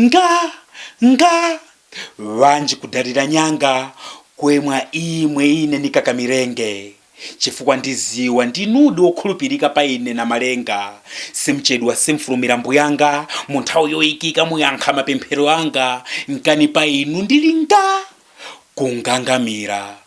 Nga! Nga! Bwanji kudalira nyanga, kwemwa imwe ine nikakamilenge, chifukwa ndiziwa ndinudi wokhulupirika pa ine Namalenga, simchedwa simfulumira Mbuyanga, munthawi yoikika muyankha mapemphero anga, nkhani pa inu ndili nga! kungangamira.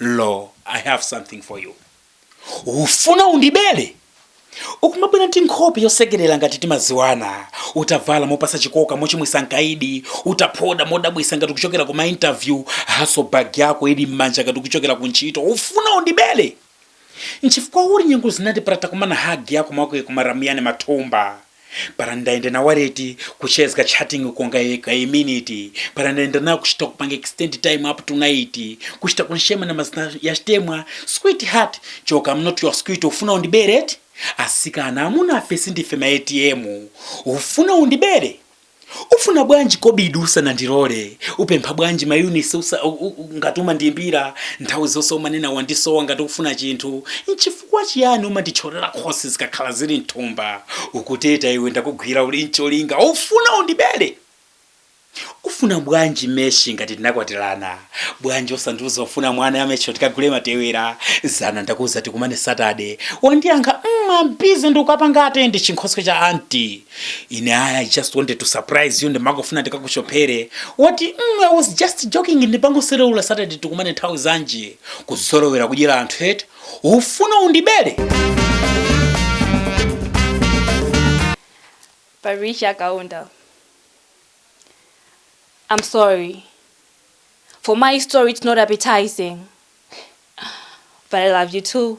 lo i have something for you ufuna undibele ukumabwera ndi nkhope yosekerera ngati timaziwana utavala mopasa chikoka mochimwisa mkaidi utaphoda modabwisa ngati kuchokera ku mainterview haso bag yako ili mmanja ngati kuchokera ku ntchito ufuna undibele nchifukwa uli nyengu zinandiparata kumana hagi yako mwako yekumaramuyane mathumba para ndaenda nawareti kuchezga chatting konga yeka a minute para ndaenda nawo kuchita kupanga extend time up to night kuchita kunshema na mazina ya chitemwa sweet heart choka I'm not your sweet ufuna undibere eti asikana amuna afe sindife ma ATM ufuna undibere Ufuna bwanji kobidi usanandilore, upempha bwanji ma unitsi ngati umandiyimbira nthawi zonse umanena wandisowa ngati ukufuna chinthu, nchifukwa chiyani umanditcholera khosi zikakhala zili mthumba, ukuteta iwe ndakugwira uli ncholinga ufuna undibere? Ufuna bwanji meshi ngati tinakwatilana, bwanji osandiuza ufuna mwana yamesho tikagule matewera, zana ndakuuza tikumane saturday, wandiyankha mm am busy ndikakapanga attend chinkhoswe cha auntie. ine aya i just wanted to surprise you ndimakafuna ndikakushopere wati mm, i was just joking ndimangosereula saturday tikumane nthawi zanji kuzolowera kudyera anthu eti ufuna undibere Patricia Kaunda. I'm sorry. For my story, it's not appetizing. But I love you too.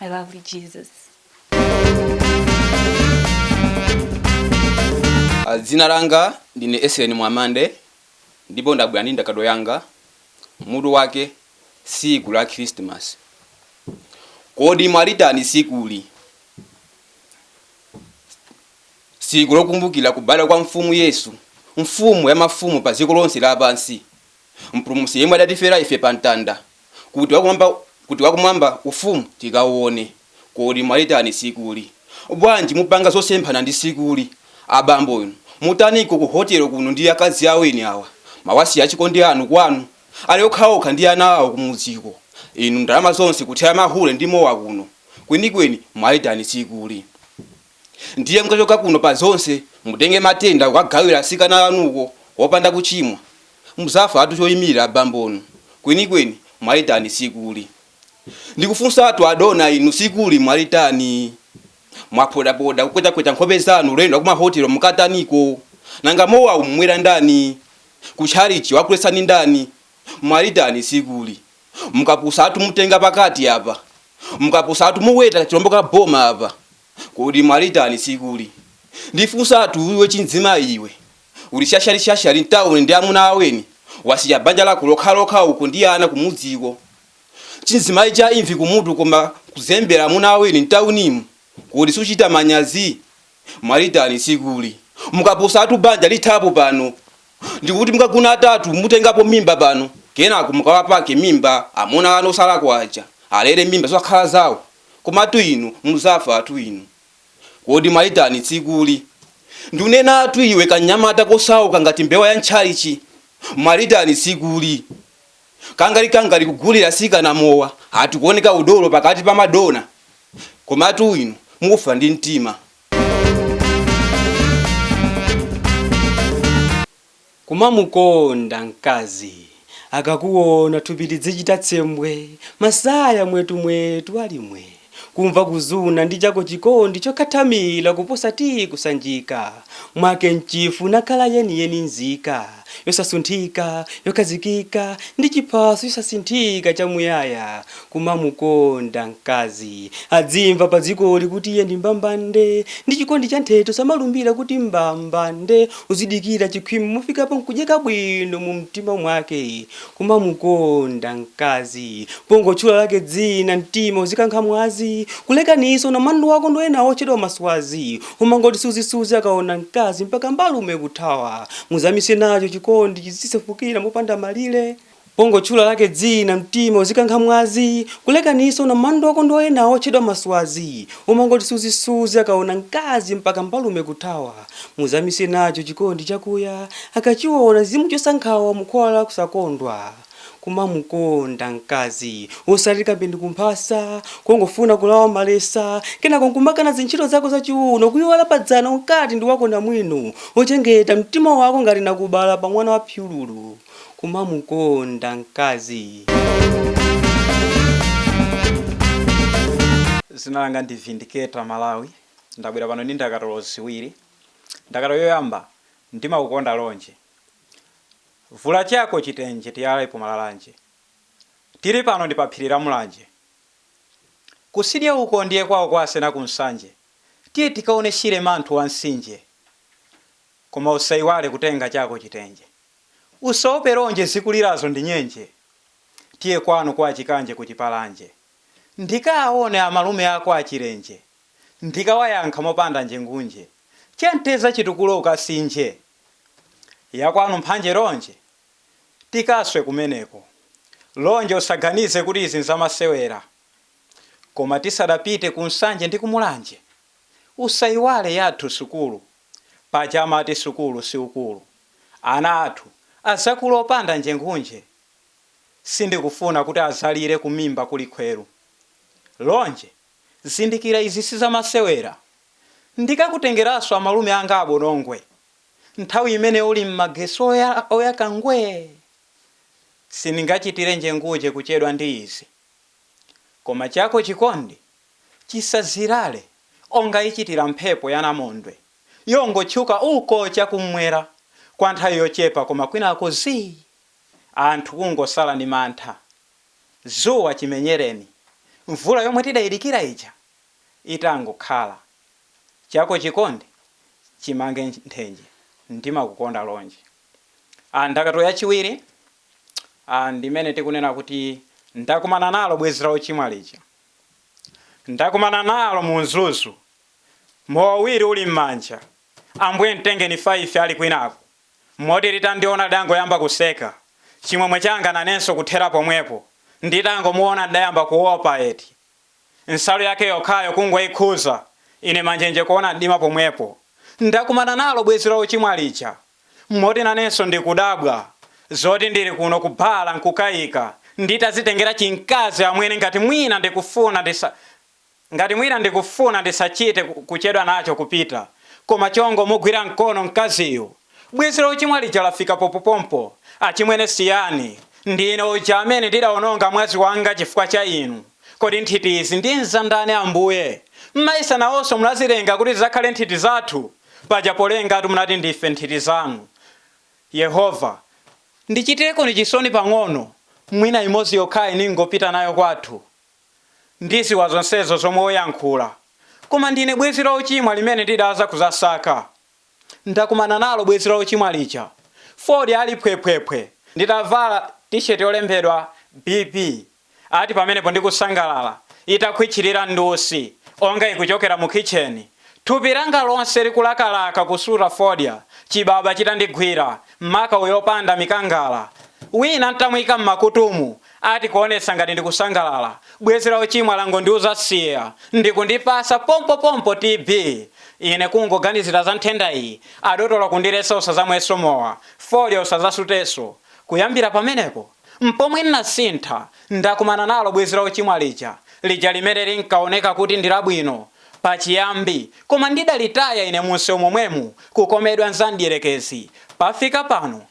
I love you, Jesus. Ah, dzina langa ndine Esen mwamande ndipo ndabwera ndi ndakatulo yanga mutu wake tsiku la khristimasi kodi mwalitani tsikuli tsiku lokumbukira kubadwa kwa mfumu yesu mfumu ya mafumu pa dziko lonse lapansi Mpulumutsi yemwe adatifera ife pa mtanda, kuti wakumwamba ufumu tikauone. Kodi mwalitani tsikuli? Bwanji mupanga zosemphana ndi tsikuli? Abambo inu, mutaniko ku hotelo kuno ndi akazi aweni awa? Mwawasiya achikondi anu kwanu? Ali okhaokha ndi ana awo kumudziko. Inu ndalama zonse kuthera mahule ndi mowa kuno. Kwenikweni mwalitani tsikuli? Ndiye mukachoka kuno pa zonse mutenge matenda kukagawira atsikana anuko opanda kuchimwa. Mudzafatu choimirira abambonu. Kwenikweni mwalitani tsikuli? Ndikufunsatu adona inu tsikuli mwalitani? Mwaphodapoda kukwetakweta nkhope zanu ulendo wakumahotelo mukataniko? Nanga mowawu mumwera ndani? Kutchalitchi wakuletsani ndani? Mwalitani tsikuli? mukapusatu mutenga pakati apa mukapusatu muweta chilombo ka boma apa kodi mwalitani tsikuli ndifunsatu iwe chimzimai iwe uli shashali shashali mtauni ndi amuna aweni wasiya banja lako lokhalokha uko ndi ana kumudziko chimzimai cha imvi kumutu koma kuzembera amuna aweni mtaunimu kodi suchita manyazi Mwalitani tsikuli? Mukapusatu banja lithapo pano. Ndikuti mukagona atatu mutengapo mimba pano kenako mukawapake mimba amuna anu osalakwa aja alere mimba zosakhala zawo. Komatu inu mudzafatu inu. Kodi mwalitani tsikuli? Ndunenatu iwe kanyamata kosauka ngati mbewa ya ntchalitchi. Mwalitani tsikuli? Kangali kangali kugulira asikana mowa ati kuoneka udolo pakati pa madona komatu inu mufa ndi mtima. Kumamukonda mkazi akakuona thupi lidzichita tsembwe masaya mwetu mwetu ali mwee. Kumva kuzuna ndi chako chikondi chokhathamila kuposa tiyi kusanjika Mwake mchifu nakhala yeni yeni nzika yosasunthika yokhazikika ndi chiphaso chosasinthika chamuyaya Kumamukonda mkazi adzimva padzikoli kuti iye ndi mbambande Ndi chikondi chanthete osamalumbila kuti mbambande Uzidikila chikhwime mufikapo nkudyeka bwino mumtima mwake Kumamukonda mkazi pongotchula lake dzina mtima uzikankha mwazi Kulekanitsa unamandwa wako ndi ena otchedwa ma swazi Omangoti suzi suzi akaona mkazi mpaka mbalume kuthawa Muzamise nacho chikondi chizisefukira mopanda malire Pongotchula lake dzina mtima uzikankha mwazi Kulekanitsa unamandwa wako ndi ena otchedwa ma swazi Omangoti suzi suzi akaona mkazi mpaka mbalume kuthawa. Muzamise nacho chikondi chakuya akachiona zimuchotsa nkhawa mukhwawa la kusakondwa. Kumamukonda mkazi osati kape ndi kumphasa kongofuna kulawa malesa kenako nkumakana zintchito zako za chiuno kuiwala padzana unkati ndi wako namwino ochengeta mtima wako ngati nakubala pa mwana wa phyululu. Kumamukonda mkazi. Dzina langa ndi Vindicator Malawi. ndabwera pano ndi ndakatulo ziwiri. Ndakatulo yoyamba, Ndimakukonda Lonje. Vula chako chitenje tiyalepo malalanje. Tili pano ndi pa phiri la Mulanje. Kusidya uko ndiye kwao kwa Asena ku Nsanje. Tiye tikaone Shire manthu wa mtsinje. Koma usaiwale kutenga chako chitenje. Usaope Lonje zikulirazo ndi nyenje. Tiye kwanu kwa Chikanje ku Chipalanje. Ndikaaone amalume ako a Chilenje. Ndikawayankha mopanda njengunje. Cha mteza chitukulo ukasinje. Ya kwanu mphanje Lonje? Tikaswe kumeneko. Lonje usaganize kuti izi nzamasewera. Koma tisadapite ku Nsanje ndi ku Mulanje. Usaiwale yathu sukulu. Paja amati sukulu si ukulu. Ana athu azakule opanda njengunje. Sindikufuna kuti azalire kumimba kuli khweru. Lonje! zindikira izi sizamasewera ndikakutengeranso amalume anga a Bonongwe nthawi imene uli mmagesi oyaka ngwee sindingachitire njengunje kuchedwa ndi izi koma chako chikondi chisazirale onga ichitira mphepo ya namondwe yongotchuka uko chakummwera kwa nthawi yochepa koma kwinako zii anthu kungosala ndi mantha Dzuwa chimenyereni, mvula yomwe tidaidikira ija itangokhala. Chako chikondi chimange nthenje, ndimakukonda Lonje. a Ndakatulo yachiwiri a ndi imene tikunena kuti Ndakumana nalo bwenzi la ochimwa lija. Ndakumana nalo mu Mzuzu. Mowa uwiri uli m'manja. Ambuye mtengeni 5 ali kwinako. moti litandiona lidangoyamba kuseka. Chimwemwe changa nanenso kuthera pomwepo. Nditangomuona ndidayamba kuopa eti. Nsalu yake yokhayo kungoikhuza, ine manjenje kuona mdima pomwepo. Ndakumana nalo bwezi la ochimwa lija! Moti nanenso ndikudabwa zoti ndili kuno ku Bhala n'kukaika nditazitengera chimkazi amwene ngati mwina ndikufuna ndisa. Ngati mwina ndikufuna ndisachite kuchedwa nacho kupita, koma chongomugwira mkono mkaziyu. Bwenzi la ochimwa lija lafika popopompo. Achimwene siyani, ndine uja amene ndidaononga mwazi wanga chifukwa cha inu. Kodi nthiti izi ndiye nzandani Ambuye? Mmayesa nawonso munazilenga kuti zidzakhale nthiti zathu? Paja polengatu munati ndife nthiti zanu. Yehova. ndichitirekoni chisoni pang'ono, mwina imodzi yokhayi ningopita nayo kwathu. Ndiziwa zonsezo zomwe uyankhula koma ndine bwezi la ochimwa limene ndidaza kuzasaka ndakumana nalo bwezi la ochimwa lija fodya ali phwephwephwe nditavala T-shirt yolembedwa BB ati pamenepo ndikusangalala itakhwitchilira ndi usi onga ikuchokera mu kitchen thupi langa lonse likulakalaka kusuta fodya chibaba chitandigwira maka uyo opanda mikangala wina ntamuika mmakutumu Ati kuonetsa ngati ndikusangalala, bwenzi la uchimwa langondiuza siya ndikundipasa pompo pompo TB, ine kungoganizira za nthenda iyi adotolo kundiletsa usazamweso mowa, fodya usazasuteso, kuyambira pamenepo mpomwe nnasintha ndakumana nalo bwenzi la uchimwa lija, lija limene linkaoneka kuti ndilabwino pachiyambi koma ndidalitaya ine munseu momwemu kukomedwa mzamdyerekezi pafika pano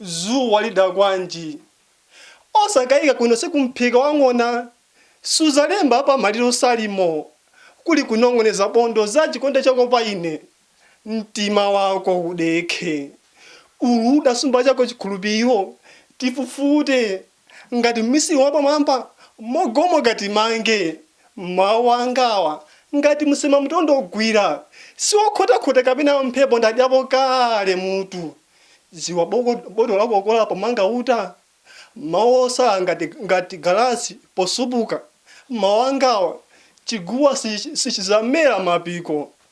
Zoo walida bwanji? Osakaika kuno sikumphika wa ng'ona suzalemba apa maliro salimo kuli kunong'oneza bondo za chikonde chako pa ine mtima wako udekhe ulu udasumba chako chikhulupiro tifufute ngati mmisili wapamwamba mogomoka timange mau anga awa ngati msema mtondo gwira siwokhotakhota kapena mphepo ndadyapo kale mutu dziwa boko botolo lakokola pomanga uta mau osala ngati galasi posupuka mau anga awa chiguwa sichi sichizamela mapiko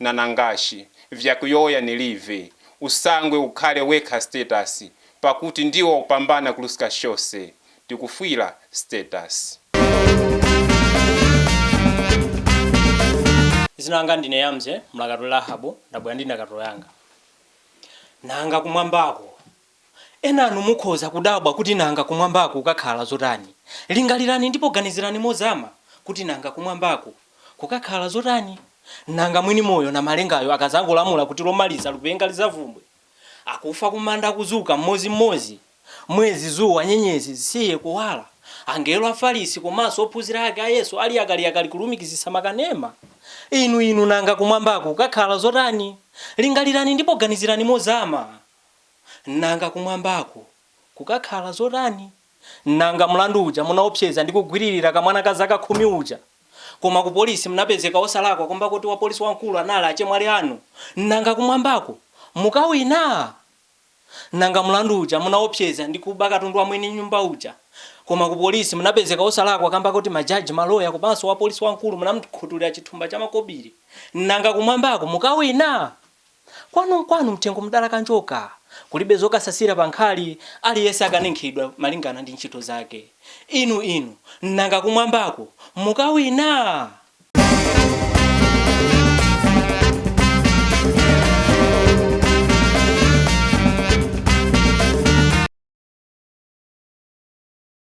nanangashi vyakuyowoya nilive usangwe ukhale wekha status pakuti ndiwe wakupambana kuluska chose tikufwila status. Dzina langa ndine Yamze, mlakatuli Rahabu, ndabwera ndi ndakatulo yanga. Nanga kumwambako Enanu mukhoza kudabwa kuti nanga kumwambako kukakhala zotani? Lingalirani ndipo ganizirani mozama kuti nanga kumwambako kukakhala zotani? Nanga mwini moyo Namalengayo akadzangolamula kuti lomaliza lipenga lidzavumbwe? Akufa kumanda akudzuka mmodzi mmodzi? Mwezi, dzuwa, nyenyezi zisiye kuwala? Angelo, Afarisi komanso ophunzira ake a Yesu ali yakaliyakali kulumikizitsa makanema? Inu, inu, nanga kumwambako kukakhala zotani? Lingalirani ndipo ganizirani mozama. Nanga kumwambako kukakhala zotani? Nanga mlandu uja munaopseza ndi kugwiririra kamwana ka zaka khumi uja koma kupolisi munapezeka osalakwa kamba koti wapolisi wamkulu anali achemwali anu, nanga kumwambako mukawina? Nanga mlandu uja munaopseza ndi kuba katundu wa mwini nyumba uja koma kupolisi munapezeka osalakwa kamba koti majaji, maloya komanso wapolisi wamkulu munamkhutulira chithumba cha makobiri, nanga kumwambako mukawina? Kwanu nkwanu mthengo mdalaka njoka, kulibe zokasasira pa nkhali, aliyense akaninkhidwa malingana ndi ntchito zake. Inu, inu, nanga kumwambako mukawina?